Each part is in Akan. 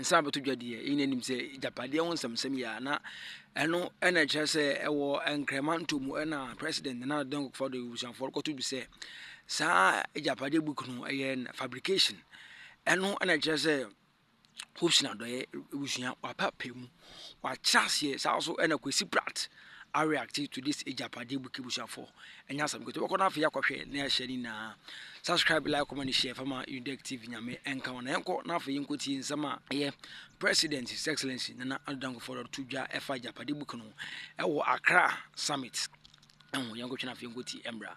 nsa abɛto dwa deɛ yɛn nyinaa nim sɛ agyapadeɛ ho nsɛmsɛm yɛ a na ɛno ɛna ɛkyerɛ sɛ ɛwɔ nkramanto mu ɛna president nana addo dankwa akufo-addo abusuafoɔ rekɔto bi sɛ saa agyapadeɛ book no ɛyɛ fabrication ɛno ɛna ɛkyerɛ sɛ hopes na adɔeɛ abusua wapa pɛ mu. W'akyerɛ aseɛ saa nso ɛna Kwesi Pratt areacte to this agyapadeɛ book busuafoɔ ɛnyɛ asɛm ketewa wobɛkɔ no afei akɔhwɛ na yɛahyɛ ne nyinaa subscribe like comment share fama udec tv nyame ɛnka wo na yɛnkɔ na afei yɛnkɔ tie nsɛm a ɛyɛ president his excellency nana ado dankofo dɔdo to dwa ɛfa agyapadeɛ book no ɛwɔ accra summit ɛho yɛnkɔtwe no afei yɛnkɔ tie ɛmmra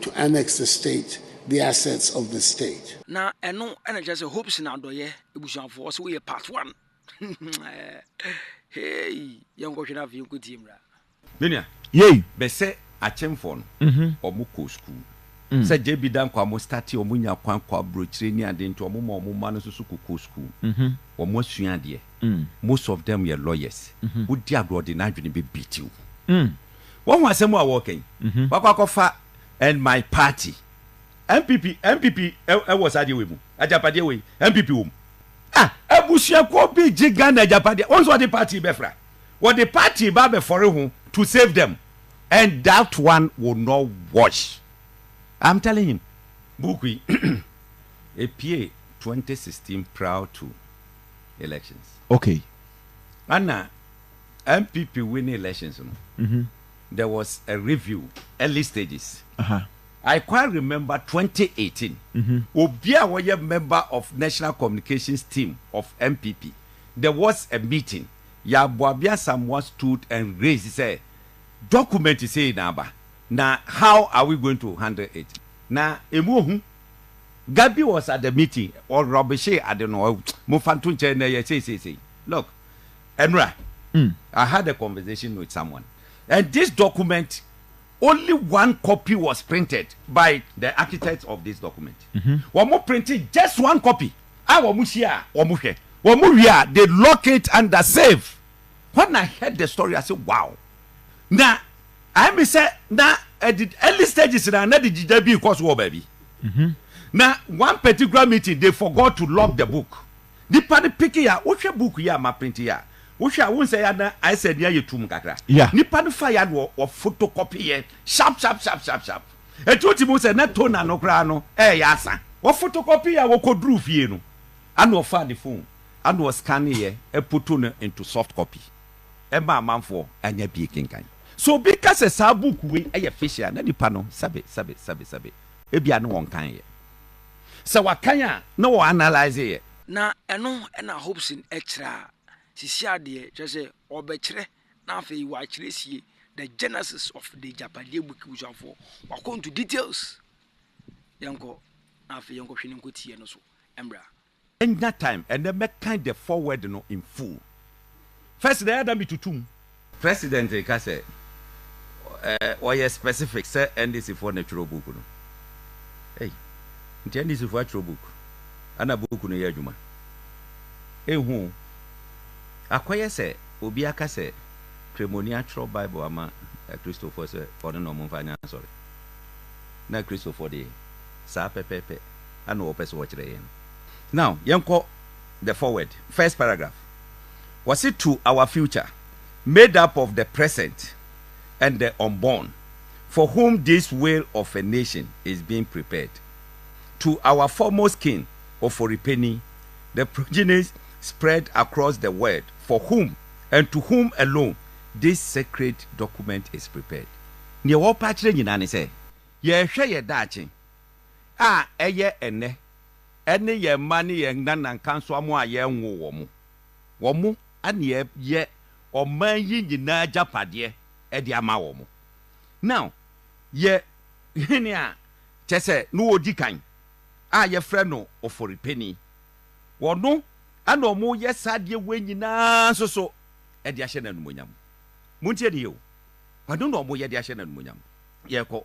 To annex the state, the assets of the state. Na ɛno ɛna kyerɛ sɛ hopes na adɔyɛ ebusuafo ɔsɛ woyɛ part one hey yɛn kɔhwɛ na afei yɛn kɔ tie mura. Menua. Yei. Bɛsɛ akyemfoɔ no ɔmo kɔ sukuu sɛ JB Danquah ɔmo startee ɔmo nya kwan kɔ abrokyire ne ade nti ɔmo ma ɔmo mma no nso so kɔ kɔ sukuu ɔmo asua adeɛ most of them yɛ lawyers wodi agorɔ ɔde n'adwene bɛ beat wo. Wahu asɛm a wɔreka yi? Wakɔ akɔfa and my party. NPP NPP wɔ saa adeɛ wei mu. Agyapadeɛ wei NPP wɔ mu. Ah, abusuakuo bi gye Ghana agyapadeɛ. Wɔn nso wɔde party bɛfra. Wɔde party ba abɛfɔre ho to save them. And that one will not wash. I'm telling him. Book yi, epie 2016 prior to elections. Okay. Ɛna NPP winning elections no there was a review early stages uh -huh. I quite remember 2018 mm -hmm. obi a wɔyɛ member of national communications team of NPP there was a meeting Yaboabi Asamoah stood and raised say document say na aba na how are we going to handle it na emu ohu Gabi was at the meeting or Robishe Adeno mo fanto nkyɛn na yɛ say say say look Ɛnora, I had a conversation with someone and this document only one copy was printed by the architect of this document. Mm-hmm. Wɔn printed just one copy. A wɔn hyia a wɔn hwɛ. Wɔn wie a they lock it under safe. When I heard the story, I said, wow. Na I mi sɛ na at the early stages na na the jija bi kɔ so wɔ baabi. Mm-hmm. Na one particular meeting they forgot to lock the book. Nipa no peke ya. Wohwɛ book yi a ma print yi a, wohwɛ a, wohu sɛ ya no ayɛ sɛ nea ayɛ tumm kakra. Yeah. Nipa no fa ya no wɔ photocopy yɛ sharp sharp sharp sharp sharp. Enti wotumi hu sɛ na toner no koraa no ɛreyɛ asa. Wɔ photocopy yɛ a wɔkɔduruu fie no, ɛna ɔfaa ne phone ɛna ɔ scanne yɛ ɛpoto no into soft copy ɛma amanfoɔ anya bi rekenkan. Sɛ obi ka sɛ saa book wei ɛyɛ fish a, na nipa no sɛbe sɛbe sɛbe sɛbe ebia na ɔnkan yɛ. Sɛ wakan a, na wɔ analyse yɛ. Na ɛno na Hobson kyerɛ a, sisi adeɛ, kyerɛ sɛ, ɔbɛkyerɛ na afei wakyerɛ sie the genesis of the Agyapadeɛ book busuafoɔ. Wakɔ into details. Yɛnkɔ na afei yɛnkɔhwɛ ne nkotiɛ no so mmra. Mɛnya time ɛnɛ mɛkan the foreword no in full. First na ɛyɛ ada metutu mu. President reka sɛ ɔyɛ specific sɛ NDC foɔ na twerɛ book no. Ei, nti NDC foɔ atwerɛ book ana book no yɛ adwuma? Ɛnhu o. Akɔyɛ sɛ obi aka sɛ Kremoni atwerɛ Bible ama Kristofoɔ sɛ ɔno na wɔmfa nyɛ asɔre. Na Kristofoɔ deɛ, saa pɛpɛɛpɛ. na wɔpɛ sɛ wɔkyerɛ yɛn no. Now, yɛnkɔ the forward, first paragraph. Wɔse to our future, made up of the present and the unborn, for whom this whale of a nation is being prepared. To our foremost king, Oforipeni, the progenies spread across the world for whom and to whom alone this sacred document is prepared. Neɛ wɔpɛ akyerɛ nyinaa ne sɛ, yɛrehwɛ yɛn daakye. a ɛyɛ ɛnnɛ ne yɛn mma ne yɛn nanankansoamma a yɛnwoo wɔn. Wɔn na yɛyɛ ɔman yi nyinaa agyapadeɛ de ama wɔn. Na yɛ hene a kyerɛ sɛ na ɔdi kan a yɛfrɛ no Oforipeni. Ɔno na wɔyɛ saa adeɛ wei nyinaa nso so de ahyɛ no animuonyam. Montie no yie o, ɔno na wɔyɛ de ahyɛ no animuonyam. Yɛrekɔ.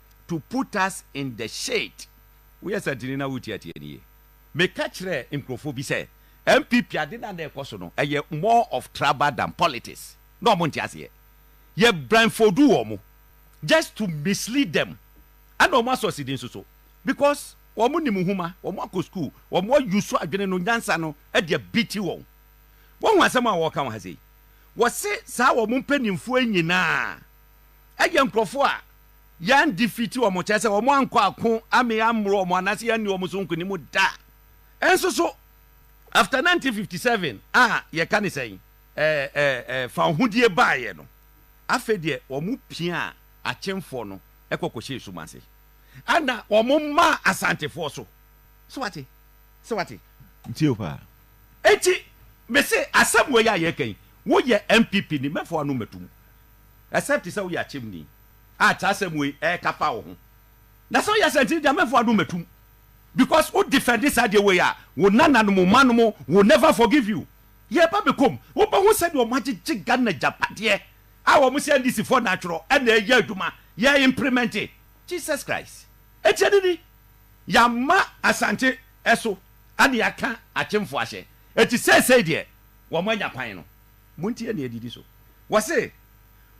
to put us in the shit. Woyɛ santini na wotiatia no yie. Meka kyerɛɛ nkurɔfoɔ bi sɛ NPP ade no a na ɛkɔ so no ɛyɛ more of trouble than politics. Na wɔn nte aseɛ. Yɛ blindfold wɔn just to mislead them. Ɛna wɔn asɔsidi nso so because wɔn nim nwoma, wɔn akɔ school, wɔn a use adwene no, nyansa no de abiti wɔn. Woahu asɛm a wɔreka wɔ ha sei? Wɔse saa wɔn mpanyinfoɔ yi nyinaa ɛyɛ nkurɔfoɔ a. Yɛn defeat wɔn kyerɛ sɛ wɔn ankɔ ako ame ammoro wɔn anaasɛ yɛanni wɔn so nkonim da. Nso so, after 1957 a yɛka ne sɛn, ɛɛ, ɛɛ, ɛɛ, fawohodie baeɛ no, afei deɛ wɔn piaa Akyemfoɔ no kɔ kɔhyɛɛ sum ase. Ɛna wɔn maa Asantefoɔ so. Sɛ wate? Sɛ wate? Metie wo paa. Enti, mese asɛm wei a yɛreka yi, woyɛ NPP ni, mɛfa w'ano mmɛto mu. except sɛ woyɛ akyɛmuni a kyerɛ asɛm wei ɛka fa wo ho na sɛ woyɛ asɛntini deɛ mɛmfo adom matum because wo defend saa deɛ wei a wo nana nom wo ma nom will never forgive you yɛ ba bɛkɔm wobɛho sɛdeɛ wɔn agyegye Ghana gyapadeɛ a wɔn sɛ NDC foɔ na atwerɛ ɛna ɛyɛ adwuma yɛ imprimente Jesus Christ ɛtiɛ ne ni yɛama asante ɛso ɛne yɛaka akyemfo ahyɛ ɛti sɛsɛi deɛ wɔn anya kwan no. Montie nea edidi so. Wɔse,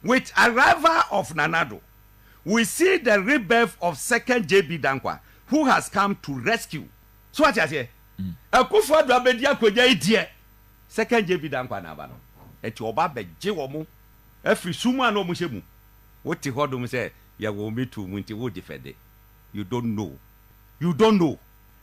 With arrival of Nana Addo, we see the rebirth of second JB Danquah who has come to rescue. So wate aseɛ? Akufo Addo abɛdi akonnwa yi deɛ, second JB Danquah na aba no. Enti ɔba abɛgye wɔn afiri sum a na wɔhyɛ mu. Wote hɔ dom sɛ yɛwɔ wo metuo mu nti wogye fɛde. You don't know. You don't know.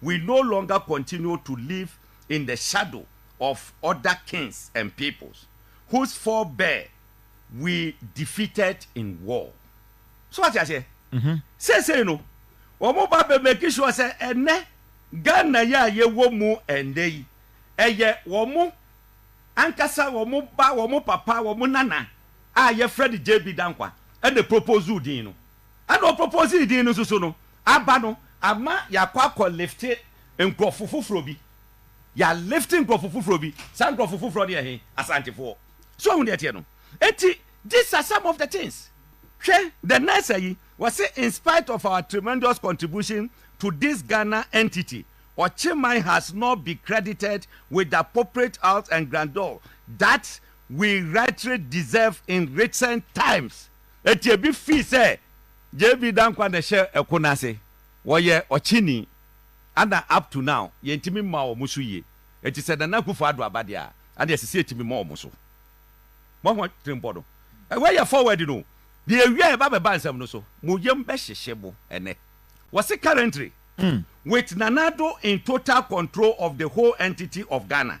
We no longer continue to live in the shadow of other kings and peoples whose forebear we defeated in war. So wate aseɛ? Seesei no, wɔn ba bɛ make sure sɛ ɛnɛ Ghana yi a yɛwɔ mu ɛnnɛ yi, ɛyɛ wɔn ankasa wɔn ba, wɔn papa, wɔn nana a yɛfrɛ no JB Danquah ɛna proposed din no. Ɛna ɔ proposee din no nsusu no aba no ama yɛakɔ akɔ lifte nkurɔfo foforɔ bi. Yɛ lifte nkurɔfo foforɔ bi. Saa nkurɔfo foforɔ no yɛ he? Asantefoɔ. So wahu deɛ ɛteɛ no? Enti these are some of the things. Hwɛ the next ayi, wɔse in spite of our tremendous contribution to this Ghana entity, Ɔkyeman has not be credited with the appropriate house and grandeur that we rightly deserve in recent times. Enti ebi fii sɛ JB Danquah na ɛhyɛ ɛko no ase, wɔyɛ ɔkyeni, ɛna up to now yɛntumi mma wɔn so yie. Enti sɛ Nana Akuffo Addo aba deɛ a, ɛnneɛ ɛsɛ sɛ yɛtumi ma wɔn so. Moahu atirimpɔ no? Wei yɛ forward no o. Deɛ ɛwie a yɛba abɛba nsɛm no so, mo yam bɛhyehye mo ɛnnɛ. Wɔse currently, with Nana Addo in total control of the whole entity of Ghana,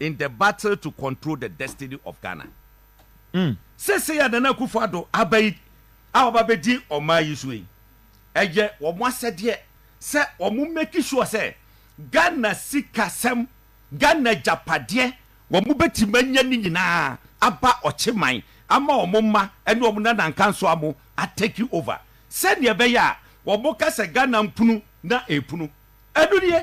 in the battle to control the destiny of Ghana. Seesei a Nana Akufo Addo aba yi a ɔba bɛdi ɔman yi so yi, ɛyɛ wɔn asɛdeɛ sɛ wɔn make sure sɛ Ghana sikasɛm, Ghana agyapadeɛ, wɔn bɛtumi anya ne nyinaa aba ɔkyeman ama wɔn mma ne wɔn nanankansoa mo a take over sɛdeɛ ɛbɛyɛ a wɔn ka sɛ Ghana mpunu na ɛpunu. Ɛno nie.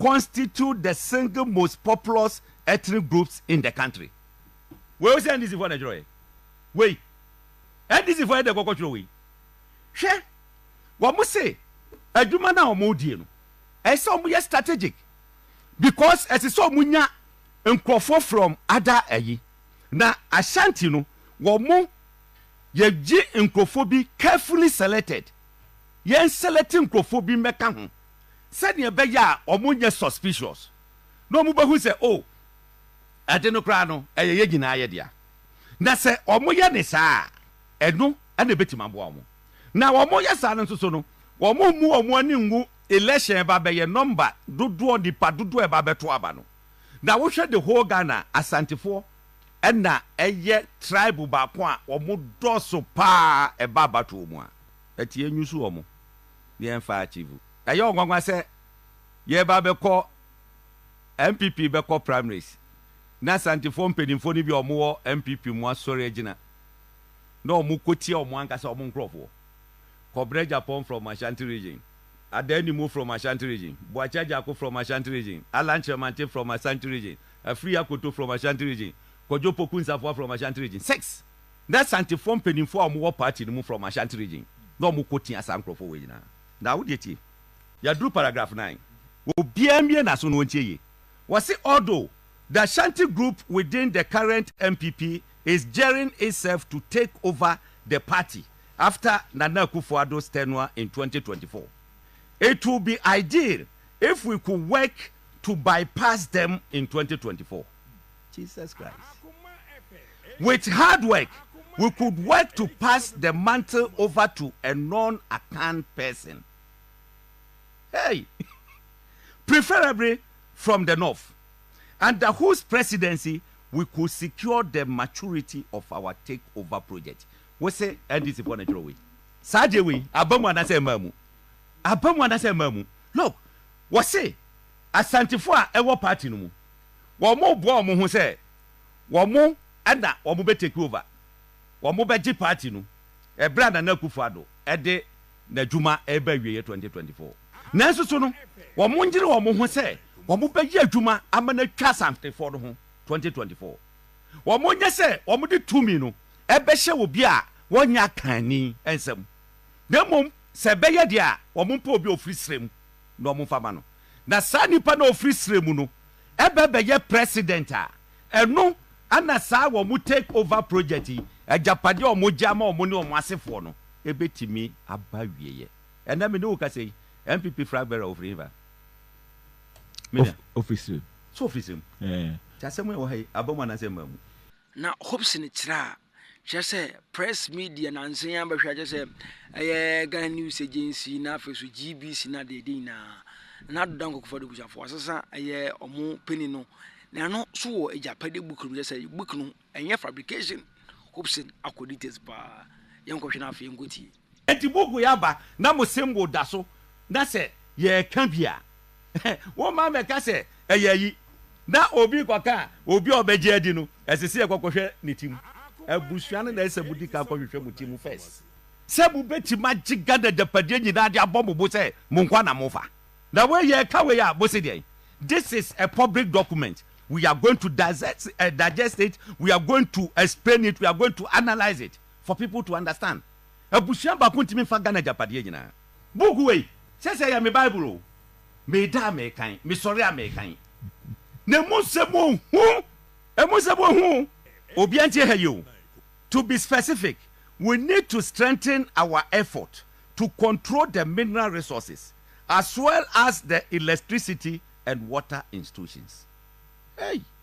constitute the single most populous ethnic groups in the country. Wei o sɛ NDC foɔ na ɛtwerɛɛ. Wei NDC foɔ yɛ dɛ kɔkɔ twerɛ wei. Hwɛ wɔn se adwuma no a wɔn die no ɛyɛ sɛ wɔn yɛ strategic because ɛsɛ sɛ wɔn nya nkurɔfoɔ from other ɛyi na Ashanti no wɔn yɛgye nkurɔfoɔ bi carefully selected yɛn select nkurɔfoɔ bi mmɛka ho Sɛnea ɛbɛyɛ a wɔnyɛ suspicious na wɔbehu sɛ, oh, ade no koraa no, ɛyɛ yɛn nyinaa yɛ dea. Na sɛ wɔyɛ no saa a, ɛno na ebetumi aboa wɔn. Na wɔyɛ saa no nso so no, wɔmmu wɔn ani ngu election a ɛba abɛyɛ, nɔmba dodoɔ, nnipa dodoɔ a ɛba abɛto aba no. Na wohwɛ the whole Ghana a, Asantefoɔ na ɛyɛ tribe baako a wɔdɔɔso pa ara ɛba abatoɔ mu a. Ɛteɛ, nyusu wɔn. yɛmfa akyivu. Ɛyɛ ɔnwanwa sɛ yɛreba abɛkɔ NPP bɛkɔ primaries na Asantefoɔ mpaninfoɔ no bi a wɔwɔ NPP mu asɔre agyina na wɔkɔtia wɔn ankasa wɔn nkorɔfoɔ. Kɔbrɛ Agyapong from Ashanti region, Adah Animu from Ashanti region, Boakye Agyarko from Ashanti region, Allan Kyeremantey from Ashanti region, Afiri Akoto from Ashanti region, Kojo Poku Nsafoa from Ashanti region. Six! Na Asantefoɔ mpaninfoɔ a wɔwɔ party no mu from Ashanti region na wɔn kɔ tia saa nkorɔfoɔ wei nyinaa. Na wo deɛ tie. Yɛaduru paragraph nine. Obiara mmue n'aso na ɔntie yie. Wɔse although the Ashanti group within the current NPP is gearing itself to take over the party after Nana Akufo-Addo's tenure in twenty twenty four, it will be ideal if we could work to bypass them in twenty twenty four. Jesus Christ. With hard work, we could work to pass the mantle over to a non-Akan person. Hey! Preferably from the north, under whose presidency we could secure the maturity of our takeover project. Wo se NDC fo na kyerɛ wei. Saa deɛ wei, aba mu anasɛ ɛmaa mu? Aba mu anasɛ ɛmaa mu? Look, wɔse Asantefo a ɛwɔ party no mu, wɔreboa wɔn ho sɛ wɔn na wɔbɛ take over, wɔbɛgye party no ɛberɛ a Nana Akufo Addo de n'adwuma reba awieɛ 2024. Nanso so no wɔnyere wɔn ho sɛ wɔbɛyɛ adwuma ama no atwa Asantefoɔ no ho 2024. Wɔnyɛ sɛ wɔde tumi no bɛhyɛ obi a wɔnyɛ akanni nsam, na mmom sɛ ɛbɛyɛ deɛ a wɔmpɛ obi a ɔfiri serɛ mu na wɔmfa ma no. na saa nipa no a ɔfiri serɛ mu no bɛ bɛyɛ president a, ɛno na saa wɔn take over project yi, agyapadeɛ a wɔn gye ama wɔn ne wɔn asefoɔ no bɛtumi aba awieɛ. Ɛnnɛ me ne wo kasa yi, NPP flag bearer ɔfiri hefa? Me nua. Ɔfiri serɛ mu. So ɔfiri serɛ mu? Ɛɛ. Nti asɛm a ɛwɔ ha yi, aba mu anaasɛ mmaa mu? Na hopes no kyerɛ a kyerɛ sɛ press media nansa yi abɛhwɛ akyɛ sɛ ɛyɛ ghana news agency na afei so gbc na deɛ ɛde nyinaa na adoda nkɔkɔfa de busuafo asesa ɛyɛ ɔmo panyin no na ɛno so wɔ agyapade book no kyɛ sɛ book no ɛnyɛ fabrication hopson akɔ details paa yɛnkɔhwɛ no afei yɛnkɔtie Enti mobue aba na mo symbol da so na sɛ yɛreka bi a, woma mɛka sɛ ɛyɛ ayi, na obi rekɔka a, obi a ɔbɛgye adi no, ɛsɛ sɛ yɛkɔ kɔhwɛ ne ti mu. Abusua no na ɛsɛ sɛ modi kan kɔhwehwɛ mo ti mu first sɛ mobɛtumi agye Ghana agyapadeɛ nyinaa de abɔ mo bo sɛ mo nkoa na mofa. Na wei yɛreka wei a, mose deɛn? This is a public document, we are going to digest it, we are going to explain it, we are going to analyse it for people to understand. Abusua baako ntumi mfa Ghana agyapadeɛ nyinaa. Book wei, sɛsɛ yɛ me Bible o, meda a mekan, mesɔre a mekan, na ɛmu nsɛm wɔ hu, ɛmu nsɛm wɔ hu o. Obiara ntie ha yi o, to be specific, we need to strengthen our effort to control the mineral resources as well as the electricity and water institutions. Hey!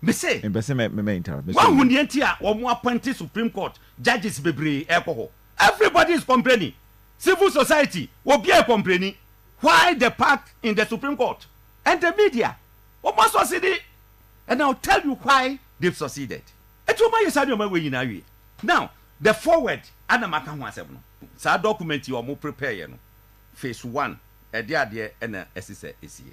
Me se, Mepɛ sɛ mɛ mɛ interrupt. Me se, Woahu nea nti a wɔn appointed Supreme Court judges bebree rekɔ hɔ? Everybody is complaining. Civil society, obiara rekɔmpleni. Why the pack in the Supreme Court? And the media, wɔn asɔsede. And I will tell you why they've succeeded. Enti wɔn ayɛ saa nneɛma wei nyinaa awie. Now, the forward a na maka ho asɛm no, saa document yi a wɔn prepareɛ no, phase one, ɛdeɛ adeɛ na ɛsesɛ ɛsie.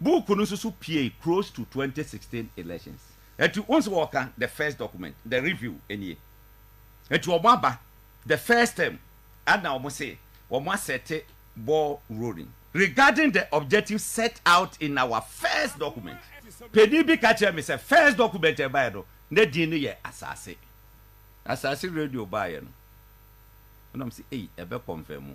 Book no nsusu piei close to twenty sixteen elections. Enti wohu sɛ wɔka the first document, the review nie. Enti wɔn aba the first term ɛna wɔn se wɔn asɛte ball rolling. Regarding the objective set out in our first document, panin bi ka kyerɛɛ me sɛ first document a ɛbaeɛ no na din no yɛ Asase. Asase radio baeɛ no na wɔn se ei ɛbɛ confirm mu.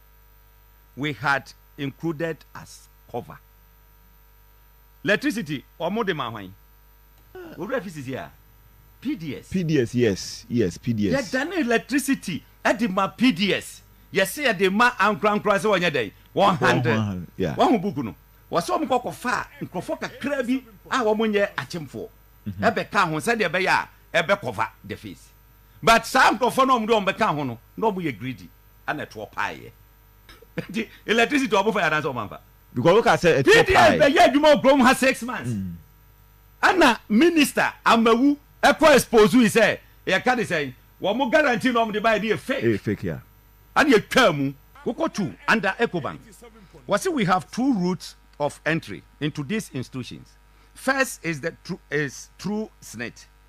we had included as cover. Electricity wɔn de ma hwan? Owura fi sisi a PDS. PDS yes yes PDS. Yɛ dane electricity de ma PDS yɛ se yɛ de ma ankorankora se wɔnyɛ dɛn wɔn handle wɔn ho book no wɔ se wɔn kɔ kɔ fa nkurɔfoɔ kakra bi a wɔn nyɛ akyemfoɔ ɛbɛ ka ho sɛdeɛ ɛbɛyɛ a ɛbɛ cover the face. but saa nkurɔfoɔ no a wɔde wɔn bɛka ho no na wɔyɛ greedy ɛna ɛtoɔ paeɛ nti electricity wɔn fa yɛ anaasɛ wɔn anfa because wo ka sɛ ɛtoɔ paeɛ pds bɛyɛ adwuma wɔ kurom ha six months mm. ɛna minister amawu ɛkɔ expose yi sɛ yɛka de sɛn wɔn guarantee na wɔn de ba yɛ de yɛ fake eh, fake ya ɛna yɛtwa mu wokɔ tu under ecobank wɔsi we have two routes of entry into these institutions first is the true is true snit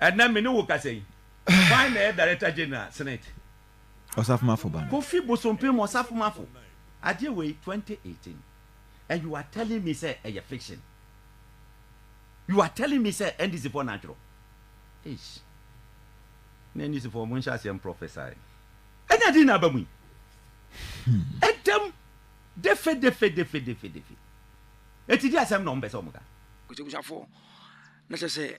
Ɛnnɛ me ne wo kasa yi, hwan na ɛyɛ Director General Senate? Osafomafo ba no. Kofi Bosompem Osafomafo, adeɛ wei 2018 and you are telling me sɛ ɛyɛ fiction? You are telling me sɛ NDC foɔ na atwerɛ? Eish, na NDC foɔ monhyɛ aseɛ mprɔfɛsae. Ɛnna din na aba mu yi? Ɛdam defedefedefedefedefe. Eti di asɛm na wɔn pɛ sɛ wɔn ka. Kotiabusuafoɔ, na kyerɛ sɛ